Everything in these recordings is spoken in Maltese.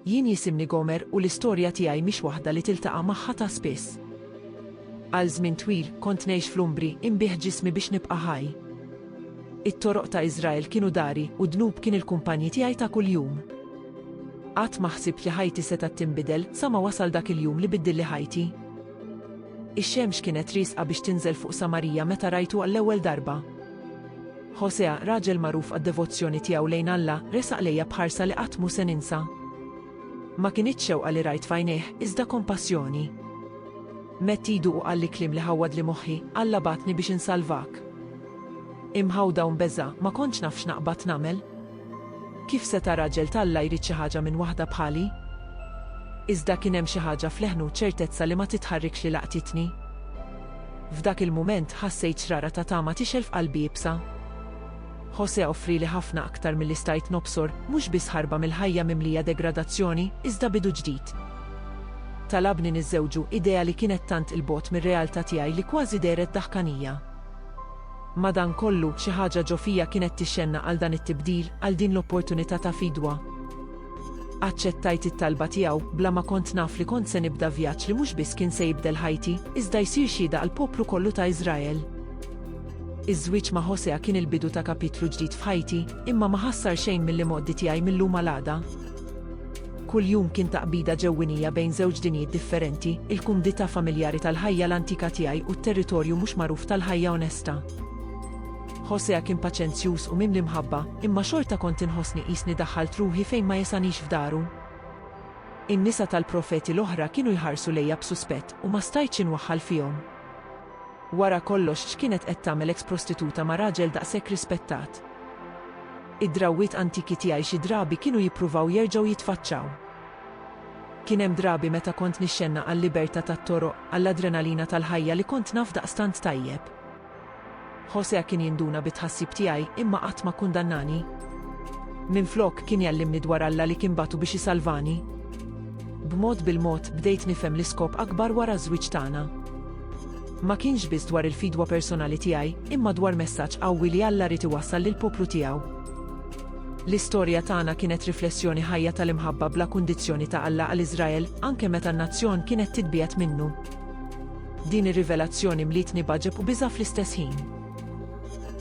Jien jisimni Gomer u l-istorja tiegħi mhix waħda li tiltaqa' magħha ta' spiss. Għal żmien twil kont ngħix fl-umbri, inbigħ ġismi biex nibqa' ħaj. It-toroq ta' Iżrael kienu dari u d-dnub kien il-kumpanji tiegħi ta' kuljum. Qatt ma ħsibt li ħajti setgħet tinbidel sa ma wasal dak il-jum li biddilli ħajti. Ix-xemx kienet riesqa biex tinżel fuq Samarija meta rajtu għall-ewwel darba. Ħosea, raġel magħruf għad-devozzjoni tiegħu lejn Alla, resaq lejja b'ħarsa li qatt mhu se ninsa. Ma kinitx xewqa li rajt f'għajnejh, iżda kompassjoni. Medd idu u qalli kliem li ħawwadli moħħi, Alla bagħatni biex insalvak. Imħawda u mbeżgħa, ma kontx naf x'naqbad nagħmel. Kif seta' raġel t'Alla jrid xi ħaġa minn waħda bħali? Iżda kien hemm xi ħaġa f'leħnu u ċertezza li ma titħarrikx li laqtitni. F'dak il-mument, ħassejt xrara ta' tama tixgħel f'qalbi iebsa. José offrieli ħafna aktar milli stajt nobsor, mhux biss ħarba mill-ħajja mimlija degradazzjoni, iżda bidu ġdid. Talabni niżżewġu, idea li kienet tant 'il bogħod mir-realtà tiegħi li kważi dehret daħkanija. Madankollu, xi ħaġa ġo fija kienet tixxennaq għal dan it-tibdil, għal din l-opportunità ta' fidwa. Aċċettajt it-talba tiegħu, bla ma kont naf li kont se nibda vjaġġ li mhux biss kien se jibdel ħajti, iżda jsir xhieda għall-poplu kollu ta' Iżrael. Iż-żwieġ ma' Hosea kien il-bidu ta' kapitlu ġdid f'ħajti, imma ma ħassar xejn mill-imgħoddi tiegħi mil-lum għal għada. Kull jum kien taqbida ġewwinija bejn żewġ dinjiet differenti, il-kumdità familjari tal-ħajja l-antika tiegħi u t-territorju mhux magħruf tal-ħajja onesta. Hosea kien paċenzjuż u mimli mħabba, imma xorta kont inħossni qisni daħħalt ruħi fejn ma jesanix f'daru. In-nisa tal-profeti l-oħra kienu jħarsu lejja b'suspett u ma stajtx inwaħħal fihom. Wara kollox x'kienet qed tagħmel eks-prostituta ma' raġel daqshekk rispettat? Id-drawwiet antiki tiegħi xi drabi kienu jippruvaw jerġgħu jitfaċċaw. Kien hemm drabi meta kont nixxennaq għal-libertà tat-toroq, għall-adrenalina tal-ħajja li kont naf daqstant tajjeb. José kien jinduna bit-tħassib tiegħi, imma qatt ma kkundannani. Minflok, kien jgħallimni dwar Alla li kien bagħtu biex isalvani. B'mod bil-mod, bdejt nifhem l-iskop akbar wara ż-żwieġ tagħna. Ma kienx biss dwar il-fidwa personali tiegħi, imma dwar messaġġ qawwi li Alla ried iwassal lill-poplu tiegħu. L-istorja tagħna kienet riflessjoni ħajja tal-imħabba bla kundizzjoni ta' Alla għal Iżrael, anke meta n-nazzjon kienet titbiegħed minnu. Din ir-rivelazzjoni mlietni b'għaġeb u biża' fl-istess ħin.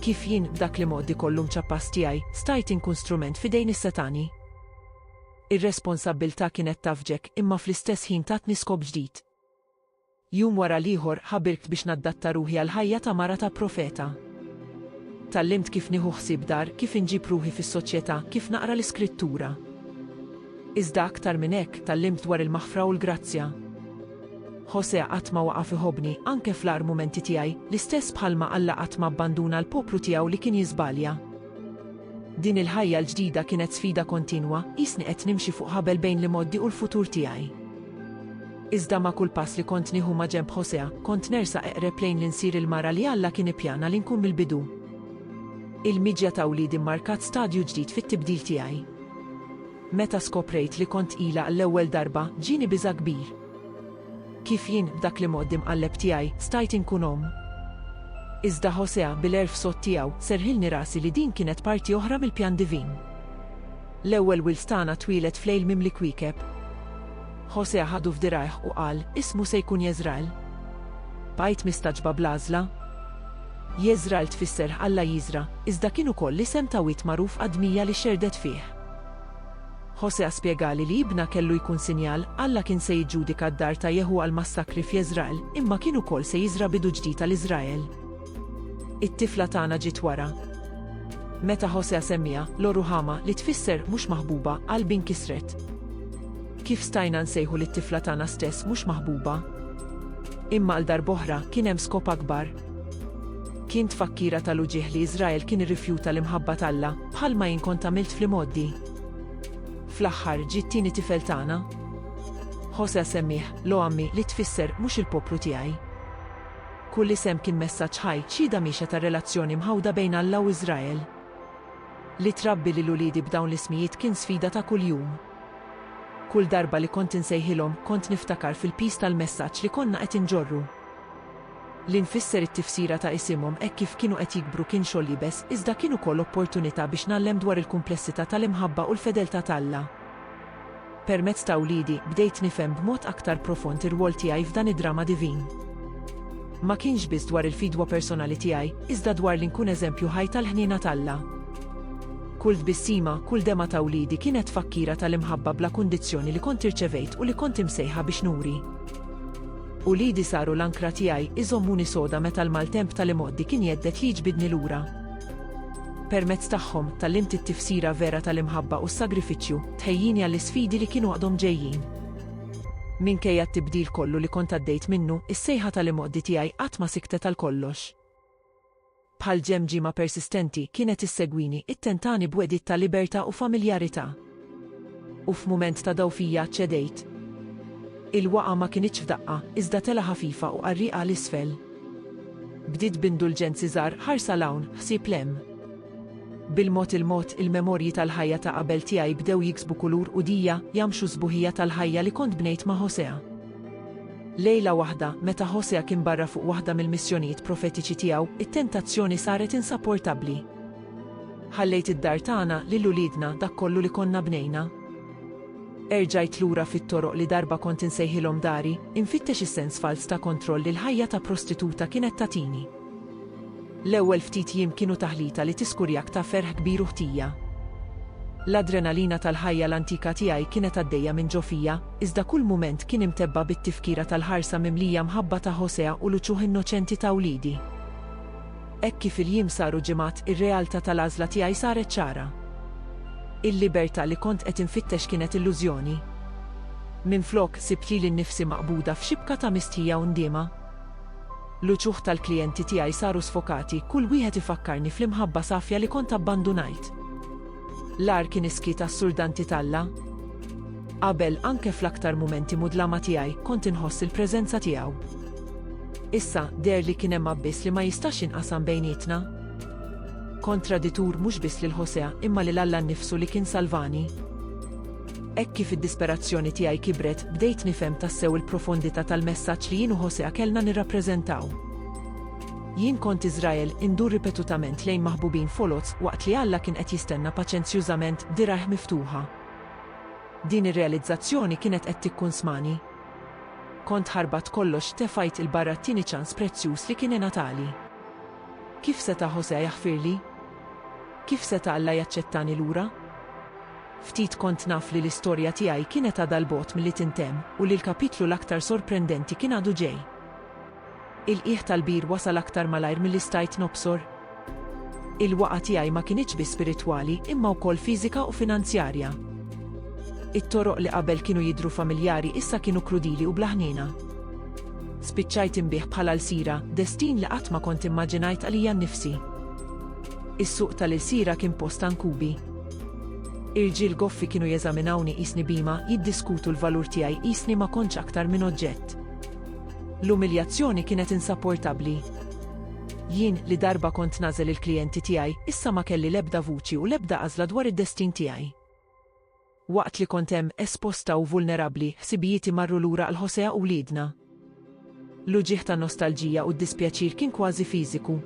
Kif jien, b'dak l-imgħoddi kollu mċappas tiegħi, stajt inkun strument f'idejn is-setgħani? Ir-responsabbiltà kienet tafġek, imma fl-istess ħin tatni skop ġdid. Jum wara l-ieħor ħabirt biex naddatta ruħi għall-ħajja ta' mara ta' profeta. Tgħallimt kif nieħu ħsieb dar, kif inġib ruħi fis-soċjetà, kif naqra l-Iskrittura. Iżda aktar minn hekk, tgħallimt dwar il-maħfra u l-grazzja. José qatt ma waqaf iħobbni, anke fl-agħar mumenti tiegħi, l-istess bħalma Alla qatt ma abbanduna l-poplu tiegħu li kien jiżbalja. Din il-ħajja l-ġdida kienet sfida kontinwa, qisni qed nimxi fuq ħabel bejn l-imgħoddi u l-futur tiegħi. Iżda ma' kull pass li kont nieħu maġenb Hosea, kont nersaq eqreb lejn li nsir il-mara li Alla kien ippjana li nkun mill-bidu. Il-miġja ta' wliedi mmarkat stadju ġdid fit-tibdil tiegħi. Meta skoprejt li kont tqila għall-ewwel darba, ġieni biża' kbir. Kif jien, b'dak l-imgħodd imqalleb tiegħi, stajt inkun omm? Iżda Hosea, bil-għerf sod tiegħu, serrħilni rasi li din kienet parti oħra mill-pjan divin. L-ewwel wild tagħna twieled f'lejl mimli kwiekeb. Ħosegħa ħadu f'dirgħajh u qal, Ismu se jkun Jeżrael. Bqajt mistagħġba bl-għażla. Jeżrael tfisser Alla jiżra', iżda kien ukoll l-isem ta' wied magħruf għad-dmija li xerdet fih. Ħosegħa spjegali li ibna kellu jkun sinjal, Alla kien se jiġġudika d-dar ta' Jeħu għall-massakri f'Jeżrael, imma kien ukoll se jiżra' bidu ġdid għal Iżrael. It-tifla tagħna ġiet wara. Meta Ħosea semmiha, Lo-ruhama, li tfisser mhux maħbuba, qalbi nkisret. Kif stajna nsejħu lit-tifla tagħna stess mhux maħbuba? Imma għal darb'oħra, kien hemm skop akbar. Kien tfakkira tal-uġigħ li Iżrael kien irrifjuta l-imħabba t'Alla, bħalma jien kont għamilt fl-imgħoddi. Fl-aħħar, ġie t-tieni tifel tagħna. Ħosea semmieh, Lo-ammi, li tfisser mhux il-poplu tiegħi. Kull isem kien messaġġ ħaj, xhieda mhiexa tar-relazzjoni mħawda bejn Alla u Iżrael. Li trabbi lil uliedi b'dawn l-ismijiet kien sfida ta' kuljum. Kull darba li kont insejħilhom, kont niftakar fil-piż tal-messaġġ li konna qed inġorru. Li nfisser it-tifsira ta' isimhom hekk kif kienu qed jikbru kien xogħol iebes, iżda kien ukoll opportunità biex ngħallem dwar il-kumplessità tal-imħabba u l-fedeltà t'Alla. Permezz ta' wliedi, bdejt nifhem b'mod aktar profond ir-rwol tiegħi f'dan id-drama divin. Ma kienx biss dwar il-fidwa personali tiegħi, iżda dwar li nkun eżempju ħaj tal-ħniena t'Alla. Kull tbissima, kull dema ta' wliedi kienet tfakkira tal-imħabba bla kundizzjoni li kont irċevejt u li kont imsejħa biex nuri. Uliedi saru l-ankra tiegħi, iżommuni soda meta l-maltemp tal-imgħoddi kien jhedded li jġbidni lura. Permezz tagħhom, tgħallimt it-tifsira vera tal-imħabba u s-sagrifiċċju, tħejjini għall-isfidi li kienu għadhom ġejjin. Minkejja t-tibdil kollu li kont għaddejt minnu, is-sejħa tal-imgħoddi tiegħi qatt ma siktet għal kollox. Bħal ġemġiema persistenti, kienet issegwini, ittentani b'wegħdiet ta' libertà u familjarità. U f'mument ta' dgħufija aċċedejt. Il-waqgħa ma kinitx f'daqqa, iżda telgħa ħafifa u qarrieqa 'l isfel. Bdiet b'indulġenzi żgħar, ħarsa 'l hawn, ħsieb 'l hemm. Bil-mod il-mod, il-memorji tal-ħajja ta' qabel tiegħi bdew jiksbu kulur u dija, jgħammxu s-sbuħija tal-ħajja li kont bnejt ma' Hosea. Lejla waħda, meta Hosea kien barra fuq waħda mill-missjonijiet profetiċi tiegħu, it-tentazzjoni saret insaportabbli. Ħallejt id-dar tagħna lil uliedna dak kollu li konna bnejna. Erġajt lura fit-toroq li darba kont insejħilhom dari, infittex is-sens falz ta' kontroll li l-ħajja ta' prostituta kienet tagħtini. L-ewwel ftit jiem kienu taħlita li tiskurjak ta' ferħ kbir u ħtija. L-adrenalina tal-ħajja l-antika tiegħi kienet għaddejja minn ġo fija, iżda kull mument kien imtebba' bit-tifkira tal-ħarsa mimlija mħabba ta' Hosea u l-uċuħ innoċenti ta' uliedi. Hekk kif il-jiem saru ġimgħat, ir-realtà tal-għażla tiegħi saret ċara. Il-libertà li kont qed infittex kienet illużjoni. Minflok, sibt lili nnifsi maqbuda f'xibka ta' mistħija u ndiema. L-uċuħ tal-klijenti tiegħi saru sfokati, kull wieħed ifakkarni fl-imħabba safja li kont abbandunajt. L-agħar kien is-skiet assurdanti t'Alla. Qabel, anke fl-aktar mumenti mudlama tiegħi, kont inħoss il-preżenza tiegħu. Issa, deher li kien hemm abbiss li ma jistax jinqasam bejnietna. Kont traditur mhux biss lil Hosea, imma lil Alla nnifsu li kien salvani. Hekk kif id-disperazzjoni tiegħi kibret, bdejt nifhem tassew il-profondità tal-messaġġ li jien u Hosea kellna nirrappreżentaw. Jien kont Iżrael, indur ripetutament lejn maħbubin foloz, waqt li Alla kien qed jistenna paċenzjużament b'dirgħajh miftuħa. Din ir-realizzazzjoni kienet qed tikkunsmani. Kont ħarbat kollox tefajt 'il barra t-tieni ċans prezzjuż li kien ingħatali. Kif seta' José jaħfirli? Kif seta' Alla jaċċettani lura? Ftit kont naf li l-istorja tiegħi kienet għadha 'l bogħod milli tintemm u li l-kapitlu l-aktar sorprendenti kien għadu ġej. Il-qiegħ tal-bir wasal aktar malajr milli stajt nobsor. Il-waqgħa tiegħi ma kinitx biss spiritwali, imma wkoll fiżika u finanzjarja. It-toroq li qabel kienu jidhru familjari issa kienu krudili u bla ħniena. Spiċċajt inbigħ bħala lsira, destin li qatt ma kont immaġinajt għalija nnifsi. Is-suq tal-ilsira kien post ta' nkubi. Irġiel goffi kienu jeżaminawni qisni bhima, jiddiskutu l-valur tiegħi qisni ma kontx aktar minn oġġett. L-umiljazzjoni kienet insapportabbli. Jien, li darba kont nagħżel il-klijenti tiegħi, issa ma kelli l-ebda vuċi u l-ebda għażla dwar id-destin tiegħi. Waqt li kont hemm, esposta u vulnerabbli, ħsibijieti marru lura għal José u wliedna. L-uġigħ ta' nostalġija u d-dispjaċir kien kważi fiżiku.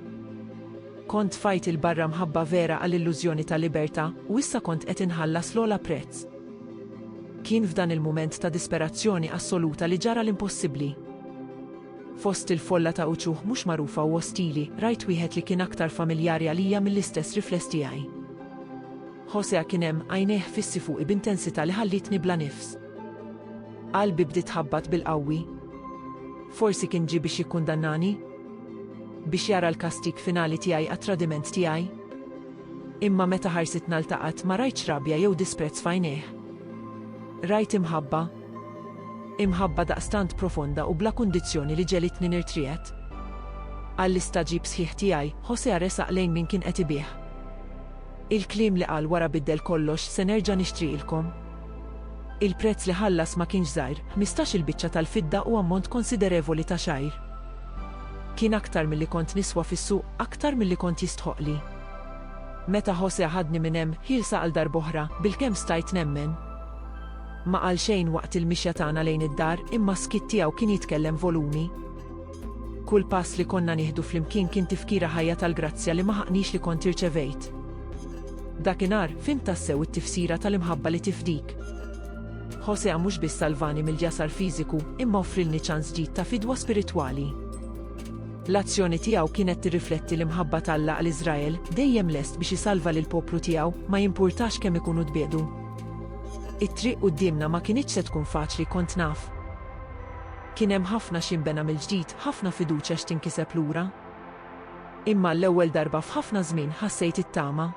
Kont tfajt 'il barra mħabba vera għall-illużjoni ta' libertà, u issa kont qed inħallas l-ogħla prezz. Kien f'dan il-mument ta' disperazzjoni assoluta li ġara l-impossibbli. Fost il-folla ta' uċuħ mhux magħrufa u ostili, rajt wieħed li kien aktar familjari għalija mill-istess rifless tiegħi. Josea kien hemm, għajnejh fissi fuqi b'intensità li ħallietni bla nifs. Qalbi bdiet tħabbat bil-qawwi. Forsi kien ġie biex jikkundannani? Biex jara l-kastig finali tiegħi għat-tradiment tiegħi? Imma meta ħarsitna ltaqgħet ma rajtx rabja jew disprezz f'għajnejh. Rajt imħabba. Imħabba daqstant profonda u bla kundizzjoni li ġegħlitni nirtriegħed. Għall-istagħġib sħiħ tiegħi, Josea resaq lejn min kien qed ibigħ. Il-kliem li qal wara biddel kollox, se nerġa' nixtriqilkom. Il-prezz li ħallas ma kienx żgħir, ħmistax-il biċċa tal-fidda u ammont konsiderevoli ta' xgħir. Kien aktar milli kont niswa fis-suq, aktar milli kont jistħoqqli. Meta José ħadni minn hemm, ħielsa għal darb'oħra, bilkemm stajt nemmen. Ma qal xejn waqt il-mixja tagħna lejn id-dar, imma s-skiet tiegħu kien jitkellem volumi. Kull pass li konna nieħdu flimkien kien tifkira ħajja tal-grazzja li ma ħaqnix li kont irċevejt. Dakinhar, fhimt tassew it-tifsira tal-imħabba li tifdik. Hosea mhux biss salvani mill-jasar fiżiku, imma offrilni ċans ġdid ta' fidwa spiritwali. L-azzjoni tiegħu kienet tirrifletti l-imħabba t'Alla għal Iżrael, dejjem lest biex isalva lill-poplu tiegħu, ma jimpurtax kemm ikunu tbiegħdu. It-triq quddiemna ma kinitx se tkun faċli, kont naf. Kien hemm ħafna x'jinbena mill-ġdid, ħafna fiduċja x'tinkiseb lura. Imma għall-ewwel darba f'ħafna żmien ħassejt it-tama.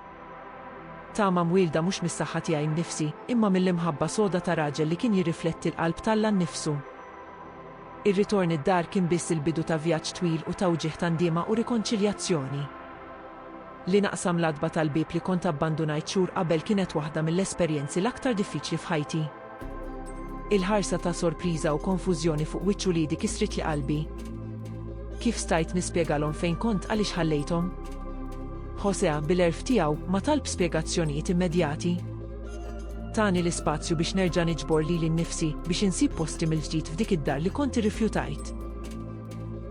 Tama mwielda mhux mis-saħħa tiegħi nnifsi, imma mill-imħabba soda ta' raġel li kien jirrifletti l-qalb t'Alla nnifsu. Ir-ritorn id-dar kien biss il-bidu ta' vjaġġ twil u ta' wġigħ ta' ndiema u rikonċiljazzjoni. Li naqsam l-għatba tal-bieb li kont abbandunajt xhur qabel kienet waħda mill-esperjenzi l-aktar diffiċli f'ħajti. Il-ħarsa ta' sorpriża u konfużjoni fuq wiċċ uliedi kisritli qalbi. Kif stajt nispjegalhom fejn kont għaliex ħallejthom? Josea, bil-għerf tiegħu, ma talb spjegazzjonijiet immedjati. Tani l-ispazju biex nerġa' niġbor lili nnifsi biex insib posti mill-ġdid f'dik id-dar li kont irrifjutajt.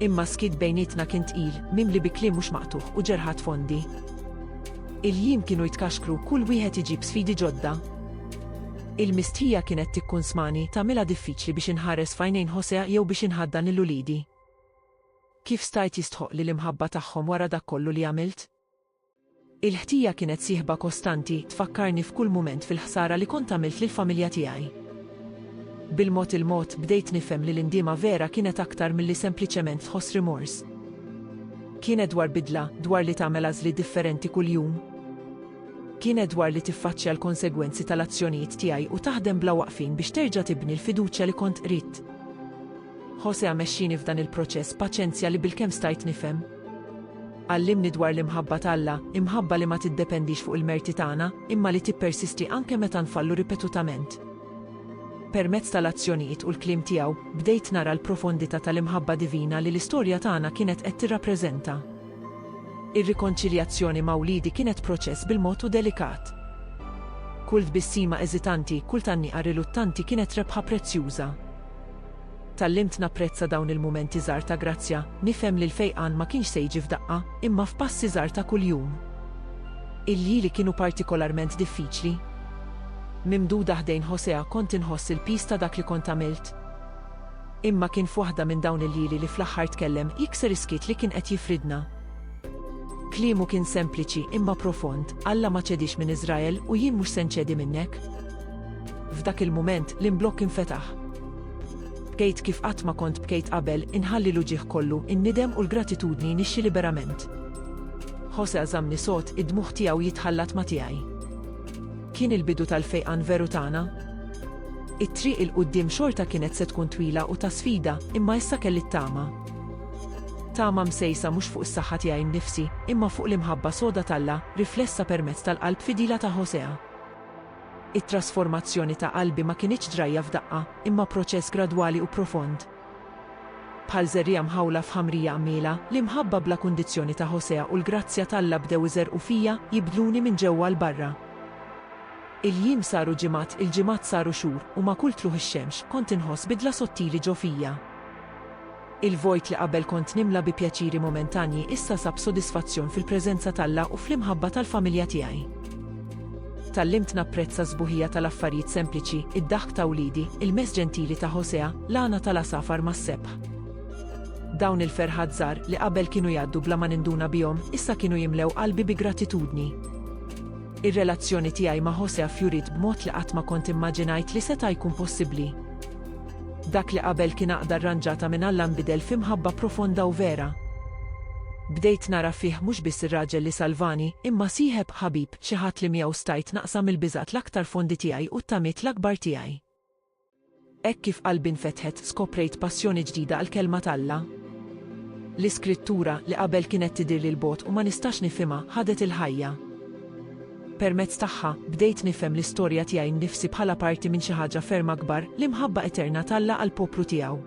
Imma s-skiet bejnietna kien tqil, mimli bi kliem mhux maqtugħ u ġerħat fondi. Il-jiem kienu jitkaxkru, kull wieħed iġib sfidi ġodda. Il-mistħija kienet tikkunsmani, tagħmilha diffiċli biex inħares f'għajnejn José jew biex inħaddan lil uliedi. Kif stajt jistħoqqli l-imħabba tagħhom wara dak kollu li għamilt? Il-ħtija kienet sieħba kostanti, tfakkarni f'kull mument fil-ħsara li kont għamilt lill-familja tiegħi. Bil-mod il-mod bdejt nifhem li l-indiema vera kienet aktar milli sempliċement tħoss rimors. Kienet dwar bidla, dwar li tagħmel għażliet differenti kuljum. Kienet dwar li tiffaċċja l-konsegwenzi tal-azzjonijiet tiegħi u taħdem bla waqfien biex terġa' tibni l-fiduċja li kont qridt. Hosea mexxieni f'dan il-proċess b'paċenzja li bilkemm stajt nifhem. Għallimni dwar l-imħabba t'Alla, imħabba li ma tiddependix fuq il-merti tagħna, imma li tippersisti anke meta nfallu ripetutament. Permezz tal-azzjonijiet u l-kliem tiegħu, bdejt nara l-profondità tal-imħabba divina li l-istorja tagħna kienet qed tirrappreżenta. Ir-rikonċiljazzjoni ma' wliedi kienet proċess bil-mod u delikat. Kull tbissima eżitanti, kull tgħanniqa riluttanti kienet rebħa prezzjuża. Tgħallimt napprezza dawn il-mumenti żgħar ta' grazzja, nifhem li l-fejqan ma kienx se jiġi f'daqqa, imma f'passi żgħar ta' kuljum. Il-lieli kienu partikolarment diffiċli. Mimduda ħdejn Hosea kont inħoss il-piż ta' dak li kont għamilt. Imma kien f'waħda minn dawn il-lieli li fl-aħħar tkellem, jikser is-skiet li kien qed jifridna. Kliemu kien sempliċi, imma profond, Alla ma ċediex minn Iżrael u jien mhux se nċedi minnek. F'dak il-mument, l-imblokk infetaħ. Bkejt kif qatt ma kont bkejt qabel, inħalli l-uġigħ kollu, in-nidem u l-gratitudni nixxi liberament. José żammni sod, id-dmugħ tiegħu jitħallat ma' tiegħi. Kien il-bidu tal-fejqan veru tagħna. It-triq 'il quddiem xorta kienet se tkun twila u ta' sfida, imma issa kelli t-tama. Tama msejsa mhux fuq is-saħħa tiegħi nnifsi, imma fuq l-imħabba soda t'Alla, riflessa permezz tal-qalb fidila ta' Hosea. It-trasformazzjoni ta' qalbi ma kinitx ġrajja f'daqqa, imma proċess gradwali u profond. Bħal żerriegħa mħawla f'ħamrija qmiela, l-imħabba bla kundizzjoni ta' Ħosea u l-grazzja t'Alla bdew iżerrqu fija, jibdluni minn ġewwa 'l barra. Il-jiem saru ġimgħat, il-ġimgħat saru xhur, u ma' kull tlugħ ix-xemx, kont inħoss bidla sottili ġo fija. Il-vojt li qabel kont nimla bi pjaċiri momentanji issa sab sodisfazzjon fil-preżenza t'Alla u fl-imħabba tal-familja tiegħi. Tgħallimt napprezza s-sbuħija tal-affarijiet sempliċi, id-daħk ta' wliedi, il-mess ġentili ta' Hosea, l-għana tal-għasafar mas-sebħ. Dawn il-ferħat żgħar, li qabel kienu jgħaddu bla ma ninduna bihom, issa kienu jimlew qalbi bi gratitudni. Ir-relazzjoni tiegħi ma' Hosea fjuriet b'mod li qatt ma kont immaġinajt li seta' jkun possibbli. Dak li qabel kien għaqda rranġata minn Alla nbidel fi mħabba profonda u vera. Bdejt nara fih mhux biss ir-raġel li salvani, imma sieħeb, ħabib, xi ħadd li miegħu stajt naqsam il-biżgħat l-aktar fondi tiegħi u t-tamiet l-akbar tiegħi. Hekk kif qalbi nfetħet, skoprejt passjoni ġdida għall-Kelma t'Alla. L-Iskrittura, li qabel kienet tidhirli 'l bogħod u ma nistax nifhimha, ħadet il-ħajja. Permezz tagħha, bdejt nifhem l-istorja tiegħi nnifsi bħala parti minn xi ħaġa ferm akbar, l-imħabba eterna t'Alla għall-poplu tiegħu.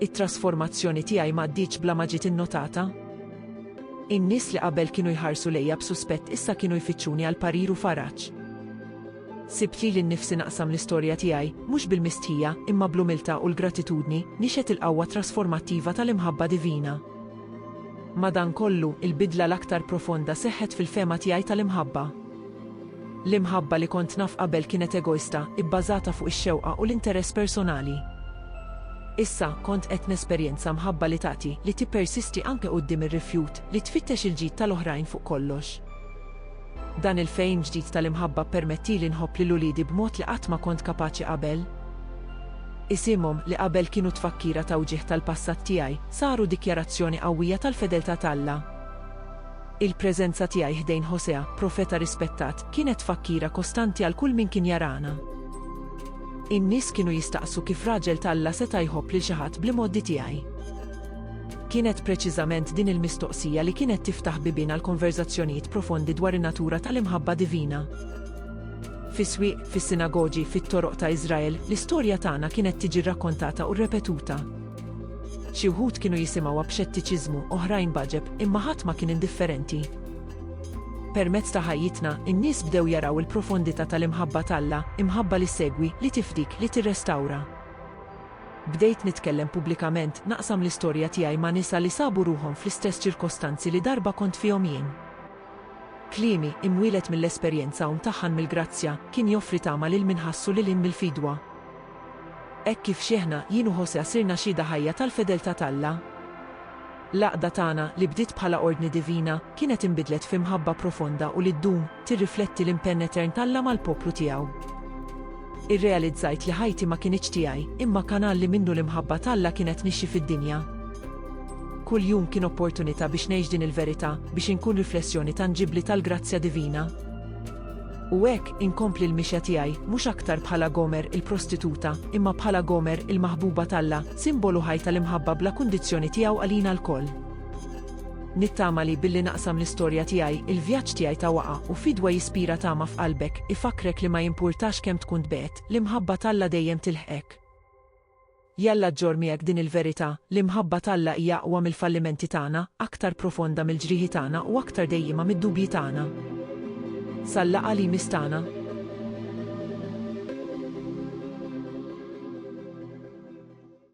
It-trasformazzjoni tiegħi m'għaddietx bla ma ġiet innotata. In-nies li qabel kienu jħarsu lejja b'suspett issa kienu jfittxuni għal parir u faraġ. Sibt lili nnifsi naqsam l-istorja tiegħi, mhux bil-mistħija, imma bl-umiltà u l-gratitudni, nixhed il-qawwa trasformattiva tal-imħabba divina. Madankollu, il-bidla l-aktar profonda seħħet fil-fehma tiegħi tal-imħabba. L-imħabba li kont naf qabel kienet egoista, ibbażata fuq ix-xewqa u l-interess personali. Issa, kont qed nesperjenza mħabba li tagħti, li tippersisti anke quddiem ir-rifjut, li tfittex il-ġid tal-oħrajn fuq kollox. Dan il-fehim ġdid tal-imħabba ppermettieli nħobb lil uliedi b'mod li qatt ma kont kapaċi qabel. Isimhom, li qabel kienu tfakkira ta' wġigħ tal-passat tiegħi, saru dikjarazzjoni qawwija tal-fedeltà t'Alla. Il-preżenza tiegħi ħdejn Hosea, profeta rispettat, kienet tfakkira kostanti għal kull min kien jarana. In-nies kienu jistaqsu kif raġel t'Alla seta' jħobb lil xi ħadd bl-imgħoddi tiegħi. Kienet preċiżament din il-mistoqsija li kienet tiftaħ bibien għal konverżazzjonijiet profondi dwar in-natura tal-imħabba divina. Fis-swieq, fis-sinagogi, fit-toroq ta' Iżrael, l-istorja tagħna kienet tiġi rrakkontata u rrepetuta. Xi wħud kienu jisimgħuha b'xettiċiżmu, oħrajn b'għaġeb, imma ħadd ma kien indifferenti. Permezz ta' ħajjitna, in-nies bdew jaraw il-profondità tal-imħabba t'Alla, imħabba li ssegwi, li tifdik, li tirrestawra. Bdejt nitkellem pubblikament, naqsam l-istorja tiegħi ma' nisa li sabu ruħhom fl-istess ċirkostanzi li darba kont fihom jien. Kliemi, imwieled mill-esperjenza u mtaħħan mill-grazzja, kien joffri tama lil min ħassu lil hinn mill-fidwa. Hekk kif xiehna, jien u Josea sirna xhieda ħajja tal-fedeltà t'Alla. L-għaqda tagħna, li bdiet bħala ordni divina, kienet inbidlet fi mħabba profonda u li ddum, tirrifletti l-impenn etern t'Alla mal-poplu tiegħu. Irrealizzajt li ħajti ma kinitx tiegħi, imma kanal li minnu l-imħabba t'Alla kienet nixxi fid-dinja. Kull jum kien opportunità biex ngħix din il-verità, biex inkun riflessjoni tanġibbli tal-grazzja divina. U hekk inkompli l-mixja tiegħi, mhux aktar bħala Gomer il-prostituta, imma bħala Gomer il-maħbuba t'Alla, simbolu ħaj tal-imħabba bla kundizzjoni tiegħu għalina lkoll. Nittama li, billi naqsam l-istorja tiegħi, il-vjaġġ tiegħi ta' waqgħa u fidwa jispira tama f'qalbek, ifakkrek li ma jimpurtax kemm tkun tbegħed, l-imħabba t'Alla dejjem tilħqek. Jalla ġġorr miegħek din il-verità, l-imħabba t'Alla hija aqwa mill-fallimenti tagħna, aktar profonda mill-ġrieħi tagħna u aktar dejjiema mid-dubji tagħna. Sal-laqgħa li jmiss tagħna.